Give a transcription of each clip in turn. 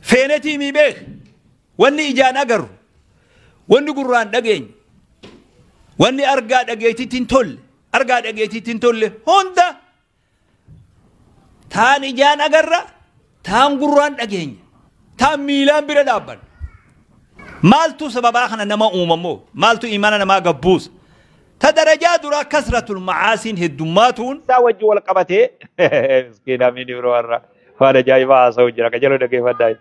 feenetii mii beek wanni ijaan agarru wanni gurraan dhageenyu wanni argaa dhageetitti hin tolle argaa dhageetitti hin tolle hunda taan ijaan agarra taan gurraan dhageenya taan miilaan bira dhaabbanna maaltu sababaa kana nama uumamoo maaltu imaana namaa gabbuusa ta darajaa duraa kasratul macaasiin heddummaatuun isaa wajji wal qabatee miskiina miin ibro warra Waan ajaa'ibaa haasa'u jira ka jaloo dhaggeeffadhaa.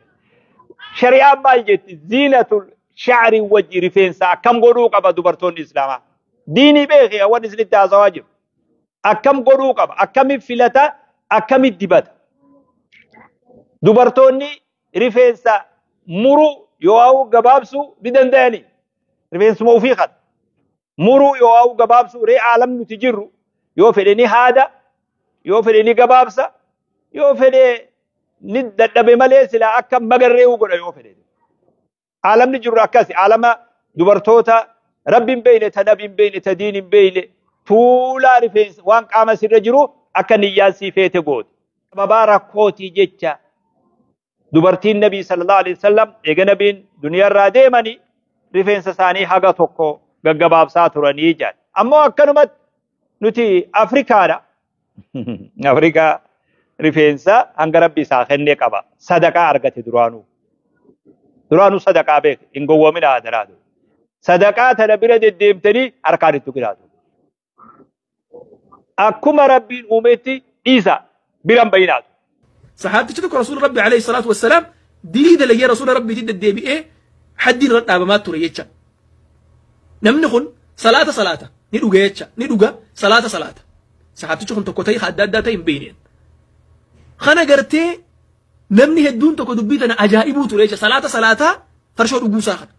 Shari'aan maal jetti? Ziinatul sha'ri wajji rifeensa akkam godhuu qaba dubartoonni Islaamaa? Diinii beekee waan isinitti haasawaa jiru. Akkam godhuu qaba? Akkamitti filata? Akkamitti dibata? Dubartoonni rifeensa muruu yoo gabaabsuu ni danda'anii? Rifeensuma ofii kana. muruu yoo'aa'u gabaabsuu ree aalam nuti jirru yoo fedhe ni haada yoo fedhe ni gabaabsa yoo fedhe ni dadhabe malee silaa akka magarree'uu godha yoo fedhe. Aalamni jirru akkasi aalama dubartoota rabbi hin beeyne ta nabi hin beeyne ta diin hin beeyne tuulaa rifeensa waan qaama sirra jiru akka niyyaan sii feete goote. Sababaa rakkootii jecha dubartiin nabii sallallahu alaihi wasallam eega nabiin duniyaarraa deemanii rifeensa isaanii haga tokko gaggabaabsaa turanii jedhan ammoo akkanumatti nuti afrikaadha afrikaa rifeensa hanga rabbi isaa kennee qaba sadaqaa argate duraanuu duraanuu sadaqaa beek hin gowwamina adaraa sadaqaa tana bira deddeemtanii harkaan itti giraatu akkuma rabbiin uumeetti dhiisa biran bayinaatu. Sahaabtichi tokko rasuula rabbi alayhi salaatu wassalaam dilii dalagee rasuula rabbiitti deddeebi'ee haddiin irra dhaabamaa ture jecha. Namni kun salaata salaata ni dhuga jecha ni dhuga salaata salaata. Sahaabtichi kun tokko ta'e adda addaa ta'e hin beekneen. Kana gartee Namni hedduun tokko dubbii tana ajaa'ibuu ture jecha salaata salaataa farshoo dhuguu isaa kana.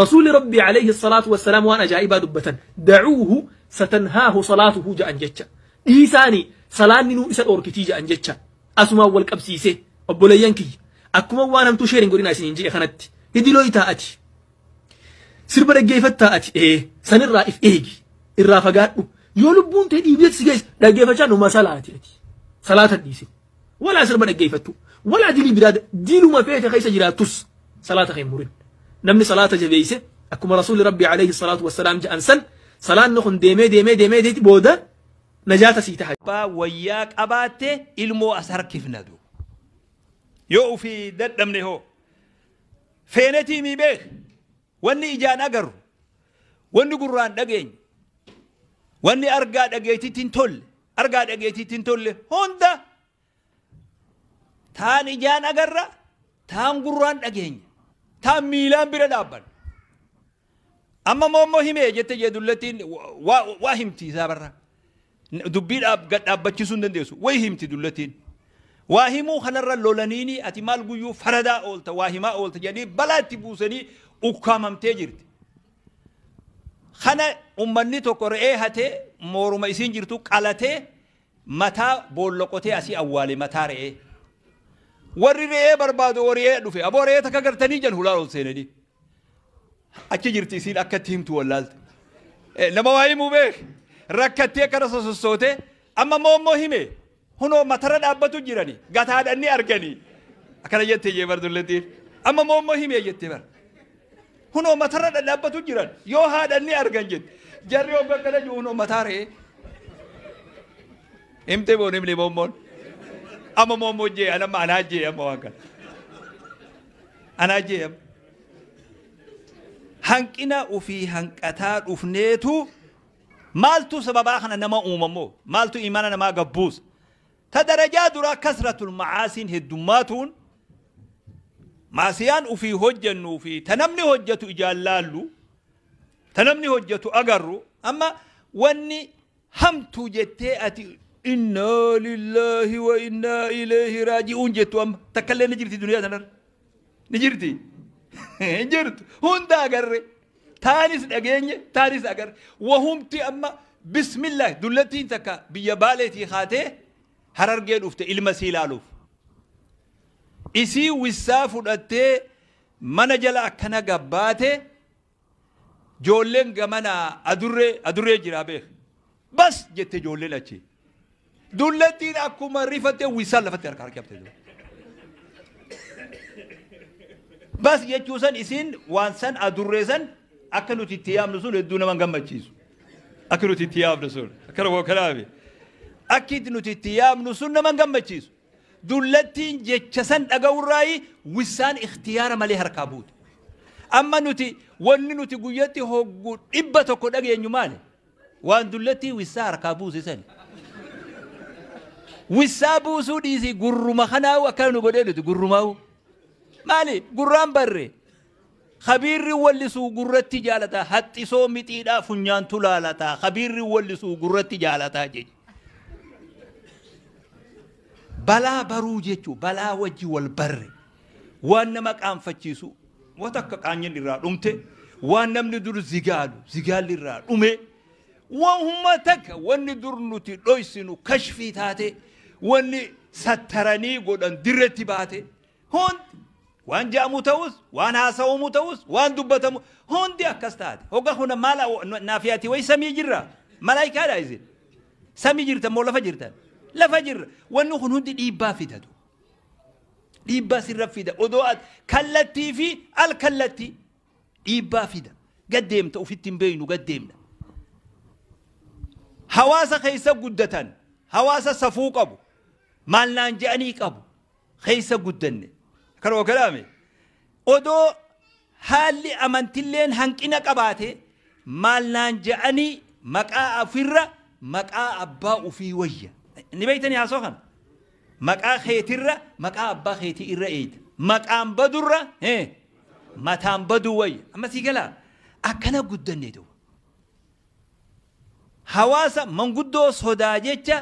Rasuulli Rabbii alayhi salaatu wassalaam waan ajaa'ibaa dubbatan dacuuhu satanhaahu salaatuhu ja'an jecha. Dhiisaani salaanni nuu isa dhoorkitii ja'an jecha. Asumaan wal qabsiisee obboleeyyan kiyya akkuma waan hamtuu sheeriin godhinaa isiniin je'e kanatti hidiloo itaa ati. Sirba dhaggeeffattaa ati ee sanirraa if eegi irraa fagaadhu yoo lubbuun tee dhiibdeetti si geesse dhaggeeffachaa numa salaati ati. Salaata dhiisin Walaa sirba dhaggeeffattu. Walaa dilii biraa da- diluma feete keessa jiraattus salaata kee hin murin. Namni salaata jabeeyse akkuma Rasuulli Rabbii alayhi salaatu wassalaam ja'an san salaanni kun deemee deemee deemee deeti booda najaata sii taha. abbaa wayyaa qabaatte ilmoo as harkifna du yoo ufii dadhabne hoo feenetii mii beek Wanni ijaan agarru, wanni gurraan dhageenyu, wanni argaa dhageetitti hin tolle, argaa dhageetitti hin tolle hunda taan ijaan agarra, taan gurraan dhageenya, taan miilaan bira dhaabbanna. Amma moommoo himee jette jee dullattiin waa himti isaa barra. Dubbii dhaab gad dhaabbachisuu hin dandeessu. Way himti dullatiin. Waa himuu kanarra lolaniini ati maal guyyuu faradaa oolta waa himaa oolta jedhanii balaa itti buusanii ukkaamamtee jirti. Kana ummanni tokko re'ee hatee mooruma isiin jirtu qalatee mataa boolla qotee asii awwaale mataa re'ee. Warri re'ee barbaadu warri re'ee dhufe aboo re'ee takka gartanii jedhan hulaa ol seenanii. Achi jirti isiin akka itti himtu wallaalte. Eh, Nama waa himuu beek rakkattee kara sosossootee amma immoo immoo hime hunoo matara dhaabbatu jirani gataadhan ni argani akkana jette jee bar dullettiin amma immoo immoo hime jette bar hunoo matara dhadhaabbatu jiran yoo haadhan ni argan jette jarri hogga akkana jiru hunoo mataa re'ee himte boon himne moommoon amma moommoo jee anamma anaa jee amma waan kana Anaa jee ab. Hanqina ufii hanqataa dhufneetu maaltu sababaa kana nama uumamoo maaltu imaana namaa gabbuus ta darajaa duraa kasratul macaasiin heddummaatuun maasiyaan ufii hojjennuu fi ta namni hojjetu ijaan laallu ta namni hojjetu agarru amma wanni Hamtuu jettee ati innaa lillaahi wa innaa ileehi raaji'uun jettu amma takkallee ni jirti duniyaa tanarra. Ni jirti. Hin jirtu. Hunda agarre. Taanis dhageenye taanis agarre. Wahumti amma bismillah dullattiin takka biyya baaleetii kaatee harargee dhufte ilma sii laaluuf. Isii wissaa fudhattee mana jala akkana gabbaate Joolleen gamanaa adurree adurree jiraa beek. Bas! jette joolleen achii. Dullattiin akkuma rifatte uwwisaan lafatti harka harkifte. Bas jechuu san isiin waan san adurree san akka nuti itti yaamnu sun hedduu nama gammachiisu. Akka nuti itti yaamnu sun akkana koo kanaafi. Akki nuti itti yaamnu sun nama gammachiisu. Dullattiin jecha san dhaga'urraayi wissaan ikhtiyaara malee harkaa buute. Amma nuti wanni nuti guyyatti hoggu dhibba tokko dhageenyu maali? Waan dullattii wissaa harkaa buuse sani. Wissaa buusuu dhiisii gurruma kanaa'uu akkana nu godhee nuti gurrumaa'uu. Maali gurraan barre Kabiirri wallisuu gurratti jaalata haxxisoo mixiidhaa funyaantu laalata kabiirri wallisuu gurratti jaalata jechi. Balaa baruu jechuun balaa wajji wal barre waan nama qaanfachiisu wata akka qaanyin irraa dhumte waan namni dur zigaalu zigaalli irraa dhume waan humma takka wanni dur nuti dhoysinu kashfii taate wanni sattaranii godhan dirretti baate Hundi waan ja'amuu ta'us, waan haasawamuu ta'us, waan dubbatamu hundi akkas taate. Hogga kuna maal naafiyaati wayi samii jirra? Malaayikaadha isin? Samii jirtan moo lafa jirtan? Lafa jirra. Wanni kun hundi dhiibbaa fidatu. Dhiibbaa sirra fida. Odoo at kallattii fi al kallattii dhiibbaa fida. Gaddeemta ofitti hin beeynu gaddeemna. Hawaasa keessa guddatan hawaasa safuu qabu. Maal naan je'anii qabu. keessa guddanne. Kan ookalaame odoo haalli amantilleen hanqina qabaate maal naan ja'anii maqaa ofirra maqaa abbaa ufii wayya. Ni beeytanii haasoo kana? Maqaa keetirra maqaa abbaa keetii irra eeyta. Maqaan badurra hee mataan baduu wayya. Amma sii galaa akkana guddanne duuba. Hawaasa manguddoo sodaa jecha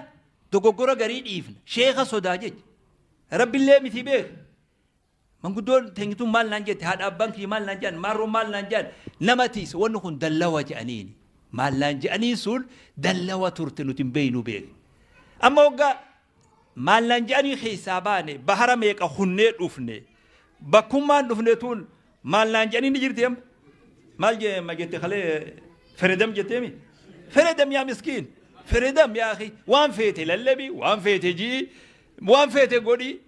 Dogoggora garii dhiifna. Sheekha sodaa jecha. Rabbillee miti beeka. Manguddoon teenyi tun maal naan jette? Haadha abbaan kiyya maal naan jedhan? Maarroon maal naan jedhan? Nama tiisa. Wanni kun dallawa jedhaniini. Maal naan jedhaniin sun dallawa turte nuti hin beeynu beeka. Amma waggaa maal naan jedhanii keessaa baane bahara meeqa kunnee dhufne. Bakkummaan dhufne tun Maal naan jedhanii ni jirti amma. Maal jee ma jette kalee feredam jettee mi? Feredam yaa miskiin. Feredam yaa akhi waan feete lallabi waan feete ji'i waan feete godhi.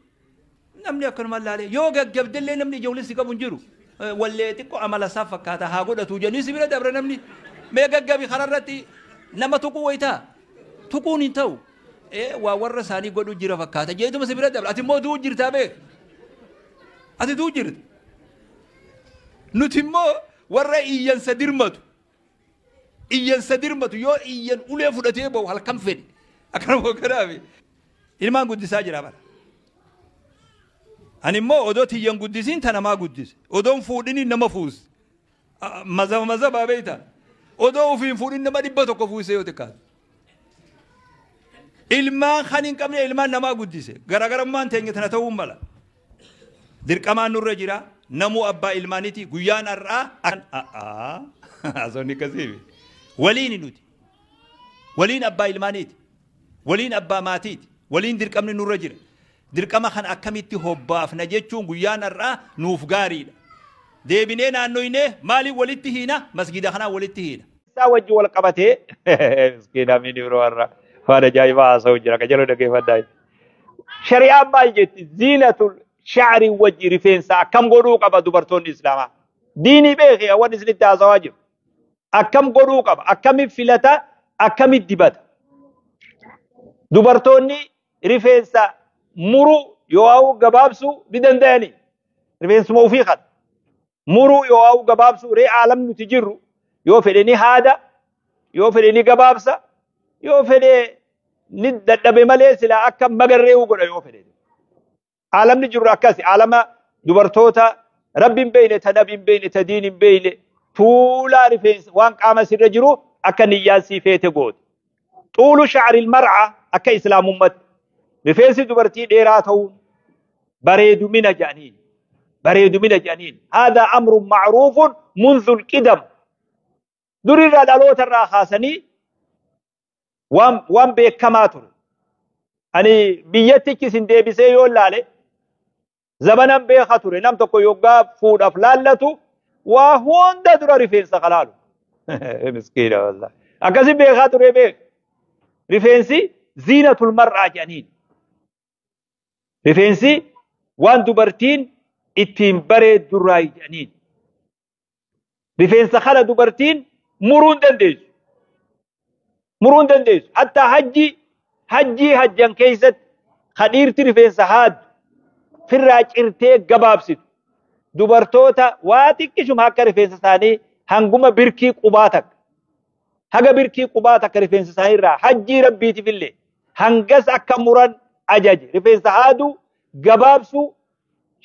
Namni akkanumaan laalee yoo gaggabdellee namni ijoollee si qabu hin jiru. Eh, Wallee xiqqoo amala isaa fakkaata haa godhatu jedhanii si bira dabra namni. Mee gaggabi kararratti nama tuquu wayitaa. Tuquun hin ta'u. Eh, Waa warra isaanii godhu jira fakkaata. Jeetuma si bira dabra. Ati immoo du'u jirtaa beeku. Asituu jirta. Nuti immoo warra iyyansa dirmatu. Iyyansa dirmatu yoo iyyan ulee fudhatee ba'u halkan fedhe. Akkanuma akkanaafi. Ilmaan guddisaa jira bara. Ani immoo odoo tiyyan guddisiin ta namaa guddise. Odoon fuudhiniin nama fuuse. Mazaba mazaba beekta. Odoo ofii hin fuudhin nama dhibba tokko fuusee yoo xiqqaate. Ilmaan kan hin qabne ilmaan namaa guddise. Garaagarummaan teenya tana ta'uu mala. Dirqamaan nurra jira. Namuu abbaa ilmaaniti guyyaan har'aa akkan a'aa haasofni akkasiifi. Waliini nuti. Waliin abbaa ilmaaniiti. Waliin abbaa maatiiti. Waliin dirqamni nurra jira. Dirqama kana akkamitti hobbaafna jechuun guyyaan har'aa nuuf gaariidha. Deebinee naannoynee maaliin walitti hiina? Masgiida kanaan walitti hiina. isaa wajji wal qabatee miskiin amiin ibro warra waan ajaa'ibaa haasa'u jira qajeeloo dhaggeeffadhaa shari'aan maal jetti ziinatul sha'rii wajji rifeensa akkam godhuu qaba dubartoonni islaamaa diinii beekee waan isinitti haasawaa jiru akkam godhuu qaba akkamitti filata akkamitti dibata dubartoonni rifeensa muruu yoo'aa'uu gabaabsuu ni danda'anii rifeensuma ofii kan muruu yoo'aa'uu gabaabsuu ree aalam nuti jirru yoo fedhe ni haada yoo fedhe ni gabaabsa yoo fedhe ni dadhabe malee silaa akka magarree'uu godha yoo fedhe Aalamni jirru akkasi. Aalama dubartoota rabbi hin beeyne, ta nabi hin beeyne, ta diin hin beeyne, tuulaa rifeensa waan qaama sirra jiru akka niyyaan sii feete goote. Xuulu sha'aril mar'a akka islaamummatti. Rifeensi dubartii dheeraa ta'uun bareedumina jedhaniin. Bareedumina jedhaniin. Haadaa amrun ma'ruufun munzul qidam. Durirraa dhaloota irraa kaasanii waan waan beekamaa ture. Ani biyyattichi isin deebisee yoo laale zabanan beeka ture nam tokko yoggaa fuudhaaf laallatu waa hunda dura rifeensa kalaalu. Miskiina wallah. Akkasi beekaa ture beek. Rifeensi ziina tulmarraa jedhaniin. Rifeensi waan dubartiin ittiin bareeddurraa jedhaniin. rifeensa kana dubartiin muruu hin dandeessu. Muruu hin dandeessu. Hatta hajjii hajjii hajjan keessatti kadhiirti rifeensa haaddu firraa cirtee gabaabsitu. Dubartoota waa xiqqishuma akka rifeensa isaanii hanguma birkii qubaa takka. Haga birkii qubaa takka rifeensa isaanii irraa hajjii rabbiitiif illee hangas akka muran ajaje. Rifeensa haaduu gabaabsuu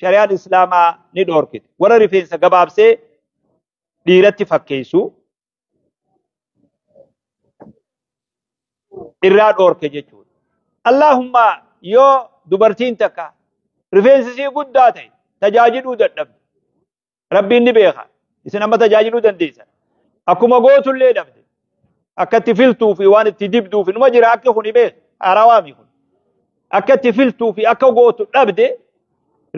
shari'aan islaamaa ni dhoorkite warra rifeensa gabaabsee dhiiratti fakkeessu irraa dhoorke jechuudha. Allaahumma yoo dubartiin takka rifeensi isii guddaa ta'e tajaajiluu dadhabde rabbiin ni beeka isin amma tajaajiluu dandeessan akkuma gootullee dhabde akka itti filtuu fi waan itti dibduu fi numa jira akki kun himee haarawaami kun akka itti filtuu fi akka gootu dhabde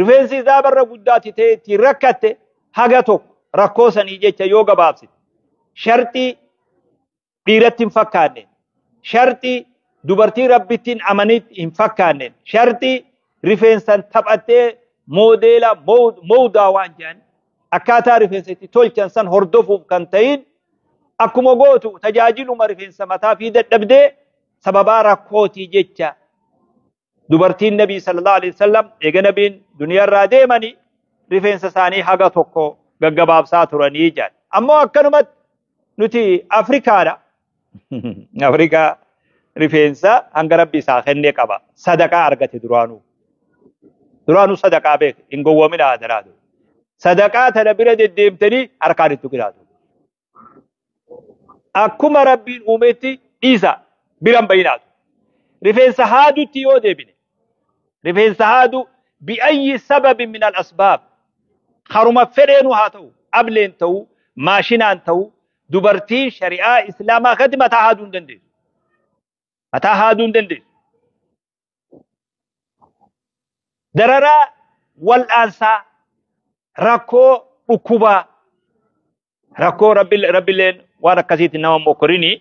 rifeensi isaa barra guddaatti ta'e ittiin rakkatte haga tokko rakkoo sanii jecha yoo gabaabsite sharxii dhiiratti hin fakkaanne sharxii dubartii rabbittiin amanitti hin fakkaanne sharxii rifeensan taphattee moodeela mowdaa waan jedhan akkaataa rifeensa itti tolchan san hordofuuf kan ta'in akkuma gootu tajaajiluma rifeensa mataa fi dadhabdee sababaa rakkootii jecha dubartiin nabii sallallahu alaihi wasallam eega nabiin duniyaarraa deemanii rifeensa isaanii haga tokko gaggabaabsaa turanii jedhan ammoo akkanumatti nuti afrikaadha afrikaa rifeensa hanga rabbi isaa kennee qaba sadaqaa argate duraanuu duraanuu sadaqaa beek hin gowwamina adaraa sadaqaa tana bira deddeemtanii harkaan itti giraatu akkuma rabbiin uumetti dhiisa biran bayinaatu rifeensa haadutti yoo deebine rifeensa haadu bi'ayyi sababi min al asbaab haruma fedheenu haa ta'u ableen ta'u maashinaan ta'u dubartiin shari'aa islaamaa katti mataa haaduu hin dandeessu mataa haaduu hin dandeessu dararaa wal'aansaa rakkoo dhukkubaa rakkoo rabbileen waan akkasiitti nama mokkorini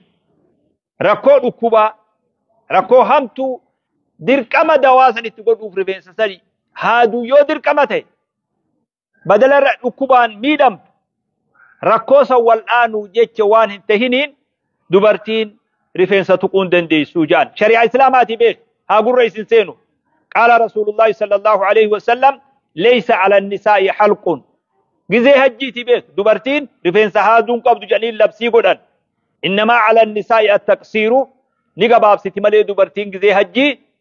rakkoo dhukkubaa rakkoo hamtuu dirqama dawaa san itti godhuuf rifeensa sani haaduu yoo dirqama ta'e badala irra dhukkubaan miidhamtu rakkoo san wal'aanuuf jecha waan hin tahiniin dubartiin rifeensa tuquun dandeessuu ja'an shari'aa islaamaatii beek haa gurra isin seenu qaala rasuulullaahi sallallahu alaihi wasallam leeysa ala nisaa'i halquun gizee hajjiitii beek dubartiin rifeensa haaduun qabdu jedhanii labsii godhan innamaa ala nisaa'i attaqsiiru ni gabaabsiti malee dubartiin gizee hajjii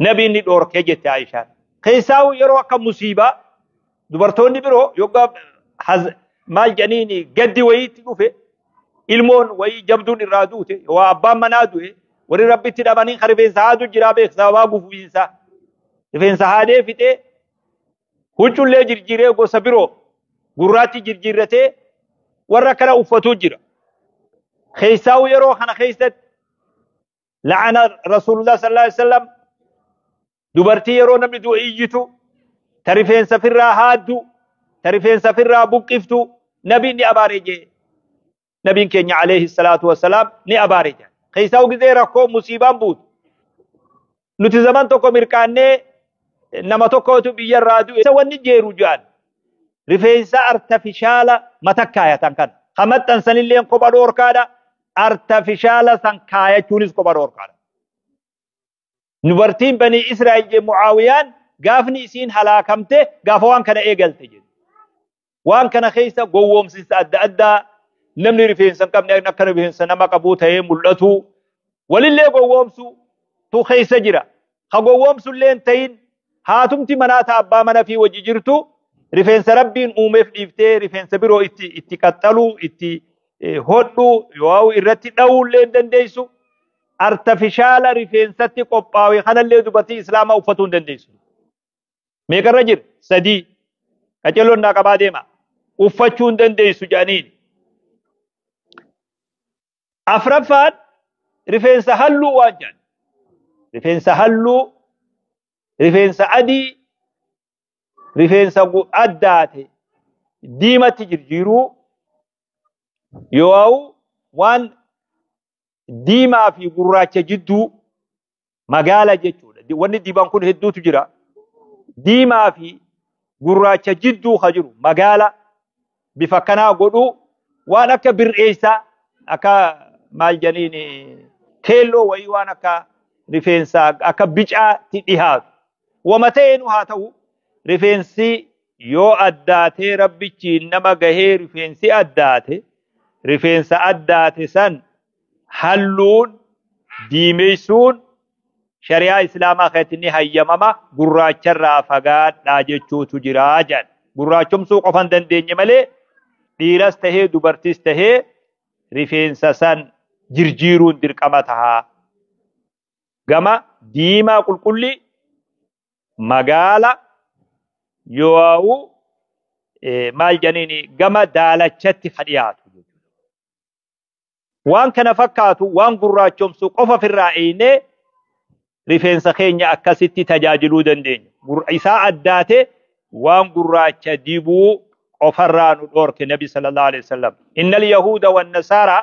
Nabiin ni dhoorkee jette Aishaan. Keessaa yeroo akka musiibaa dubartoonni biroo yoggaa maal jedhaniin gaddi wayiitti dhufe ilmoon wayii jabduun irraa duute waa abbaan manaa du'e warri rabbitti dhabanii kan rifeensa haadu jiraa beek sababaa gufuufiinsaa rifeensa haadee fixee huccullee jirjiiree gosa biroo gurraatti jirjiirratee warra kana uffatuu jira. Keessaa yeroo kana keessatti la'ana rasuulullah sallallahu alaihi wasallam dubartii yeroo namni du'e iyyitu ta rifeensa firraa haaddu ta rifeensa firraa buqqiftu nabiin ni abaare jee nabiin keenya alayhi salaatu wassalaam ni abaare jee keessaa ugizee rakkoo musiibaan buutu nuti zaman tokko mirqaannee nama tokkotu biyyarraa du'e isa wanni jeeru jedhan rifeensa artifishaala matakkaayatan kan ka maxxansanilleen kopha dhoorkaadha artafishaala san kaayachuunis kopha dhoorkaadha. Dubartiin banii Israa'el jee Mucaawiyaan gaafni isiin halaakamte gaafa waan kana eegalte jedhu. Waan kana keessa gowwoomsinsa adda addaa namni rifeensa hin qabne akka rifeensa nama qabuu ta'ee mul'atu walillee gowwoomsu tu keessa jira. ha gowwoomsullee hin ta'in haatumti manaa ta abbaa mana fi wajji jirtu rifeensa rabbiin uumeef dhiiftee rifeensa biroo itti itti qaxxaluu itti eh, hodhuu yoo irratti dha'uullee hin dandeessu artifishaala rifeensatti qophaa'e kanallee dubartii islaamaa uffatuu hin dandeessu. Meeqarra jira? Sadii. Qacelloon naa qabaa deema. Uffachuu hin dandeessu jedhaniin. Afraffaan rifeensa halluu waan jedhan. Rifeensa halluu, rifeensa adii, rifeensa addaate diimatti jirjiiruu yoo waan diimaa fi gurraacha jidduu magaala jechuudha. Di- Wanni diban kun hedduutu jira. Diimaa fi gurraacha jidduu ka jiru magaala bifa kanaa godhuu waan akka bir'eessaa akka maal jedhaniin keelloo wayii waan akka rifeensaa akka bicaatti dhihaatu. Wama ta'eenuu haa ta'u rifeensi yoo addaatee rabbichiin nama gahee rifeensi addaate rifeensa addaate san halluun diimeysuun shari'aa islaamaa keessatti ni hayyamama gurraacharraa fagaadhaa jechuutu jira jedhan gurraachomsuu qofa hin dandeenye malee dhiiras tahee dubartis tahee rifeensa san jirjiiruun dirqama taha gama diimaa qulqullii magaala yoo'u maal jedhaniin gama daalachatti ka dhiyaatu waan kana fakkaatu waan gurraachomsu qofa ofirraa eeynee rifeensa keenya akkasitti tajaajiluu dandeenya. Isaa addaate waan gurraacha dibuu qofarraa nu dhoorke nabi sallallahu alaihi wasallam. Innal yahuuda wan nasaara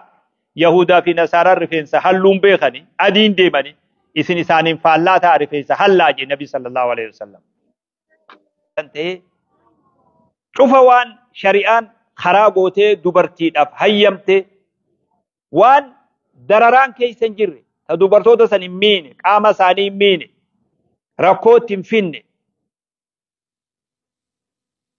yahuudaa fi nasaaraan rifeensa halluun beekani adiin deemani isin isaaniin faallaa ta'a rifeensa hallaa jee nabi sallallahu alaihi wasallam. kan ta'e cufa waan shari'aan karaa gootee dubartiidhaaf hayyamte waan dararaan keessa hin jirre ta dubartoota san hin miine qaama isaanii hin miine rakkootti hin finne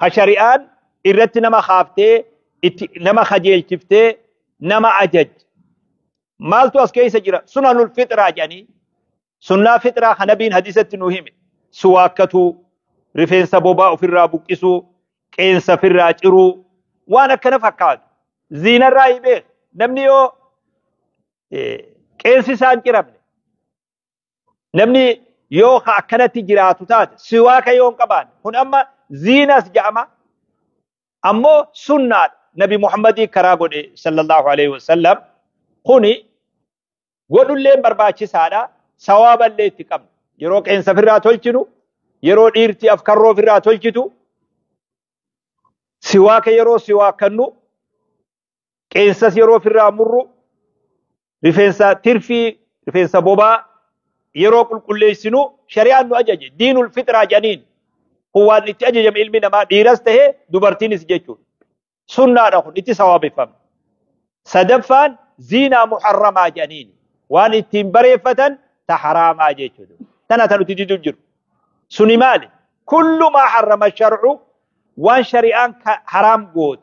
ka shari'aan irratti nama kaaftee itti nama kajeelchiftee nama ajaj maaltu as keessa jira sunanul fixraa jedhanii sunnaa fixraa ka nabiin hadiisatti nu hime suwaakkatuu rifeensa bobaa ofirraa buqqisuu qeensa ofirraa ciruu waan akkana fakkaatu ziinarraa himee namni yoo qeensi isaan ciramne namni yoo ka akkanatti jiraatu taate siwaaka yoo hin qabaanne kun amma ziinas jedhama ammoo sunnaadha nabi muhammadii karaa godhe sallallahu alaihi wasallam kuni godhulleen barbaachisaadha sawaaballee itti qabna yeroo qeensa ofirraa tolchinu yeroo dhiirti afkarroo ofirraa tolchitu siwaaka yeroo siwaakannu qeensas yeroo ofirraa murru rifeensa tirfii rifeensa bobaa yeroo qulqulleessinu shari'aan nu ajaje diinul fixraa jedhaniin kun waan itti ajajame ilmi namaa dhiiras ta'e dubartiinis jechuudha. Sunnaadha kun itti sawaabeffama. Sadaffaan ziinaa muharramaa jedhaniin waan ittiin bareeffatan ta haraamaa jechuudha. Tana ta nuti didu jiru. Suni maali? Kullu maa harrama sharcu waan shari'aan haraam goote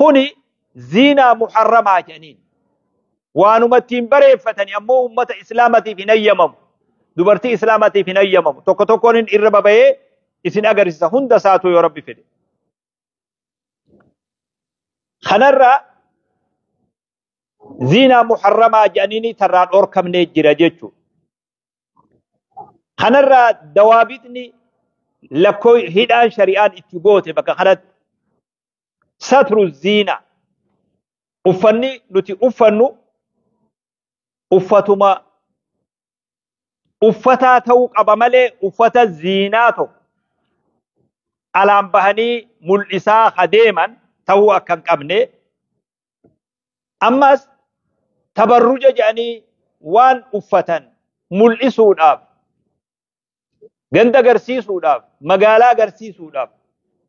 kuni ziinaa muharramaa jedhaniin waanuma ittiin bareeffatani ammoo ummata islaamatiif hin hayyamamu dubartii islaamatiif hin hayyamamu tokko tokkoon hin irra babayee isin agarsiisa hunda isaatu yoo rabbi fedhe kanarra ziinaa muharramaa jedhaniini tarraa dhorkamnee jira jechuudha Kanarraa dawaabitni lakkoo hidhaan shari'aan itti goote bakka kanatti satru ziina uffanni nuti uffannu uffatuma uffataa ta'uu qaba malee uffata ziinaa tokko alaan bahanii mul'isaa adeeman ta'uu akka hin qabne Ammas tabarruja jedhanii waan uffatan mul'isuudhaaf ganda agarsiisuudhaaf magaalaa agarsiisuudhaaf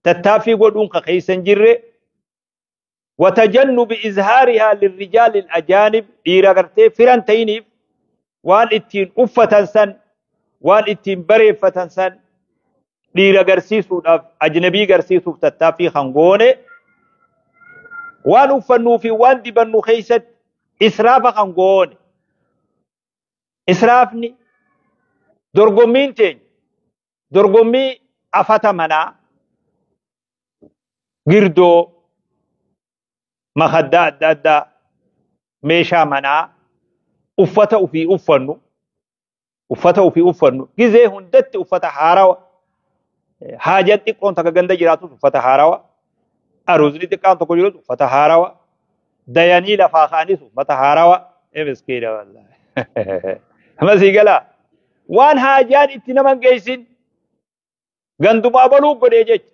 tattaaffii godhuun ka keessa hin jirre watajannubi izhaarihaa lirrijaalil ajaanib dhiira gartee firan ta'iniif waan ittiin uffatan san waan ittiin bareeffatan san dhiira garsiisuudhaaf ajnabii garsiisuuf tattaaffii kan goone waan uffannuu fi waan dibannu keessatti israafa kan goone israafni dorgommiin teenya dorgommii afata manaa girdoo makaddaa adda addaa meeshaa manaa uffata ofii uffannu uffata ofii uffannu gizee hundatti uffata haarawa haajaan xiqqoon takka ganda jiraatus uffata haarawa aruuzni xiqqaan tokko jirus uffata haarawa dayanii lafaa ka'anis uffata haarawa miskiina wallaahi masii galaa waan haajaan itti naman geessin gandumaa baluu godhee jecha